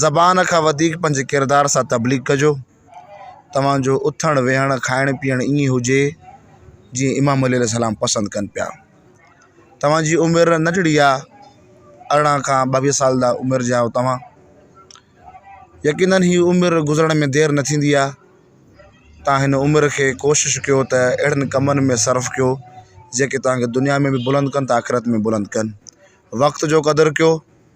زبان کان وڌيڪ پنهنجي ڪردار سان تبليغ ڪجو توهان جو اٿڻ ويهڻ کائڻ پيئڻ ائين هجي جيئن امام علي السلام پسند ڪن پيا توهانجي عمر ننڍڙي آ ارڙهن کان ٻاويهه سال جا عمر جا توهان يقينن هي عمر گذرڻ ۾ دير نه ٿيندي آ توهان هن عمر کي ڪوشش ڪيو ته اهڙن ڪمن ۾ صرف ڪيو جيڪي توهانکي دنيا ۾ بلند ڪن ته آخرت ۾ بلند ڪن وقت جو قدر ڪيو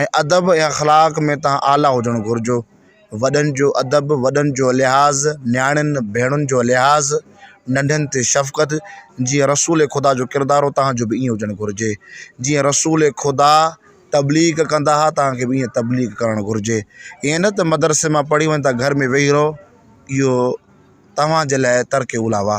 ۽ ادب ۽ اخلاق ۾ تان اعليٰ هجڻ گهرجو وڏن جو ادب وڏن جو لحاظ نياڻين ڀيڻن جو لحاظ ننڍن تي شفقت جيئن رسول خدا جو ڪردار هو تان جو به ائين هجڻ گهرجي جيئن رسول خدا تبليغ ڪندا ها تان کي به ائين تبليغ ڪرڻ گهرجي ائين نه ته مدرسي مان پڙهي وڃ ته گهر ۾ ويهي رهو اهو توهان جي لاء ترڪ اولاوا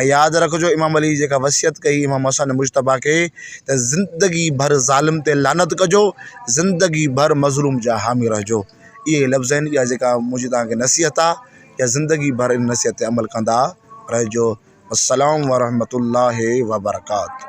۽ ياد رکجو امام علي جيڪا وصيت ڪئي امام حسن مجتبيٰ کي ته زندگي ڀر ظالم تي لعنت ڪجو زندگي ڀر مظلوم جا حامي رهجو اهي لفظ آهن اها جيڪا منهنجي تان کي نصيحت آ يا زندگي ڀر ان نصيحت تي عمل ڪندا رهجو السلام ورحمة الله وبرڪاته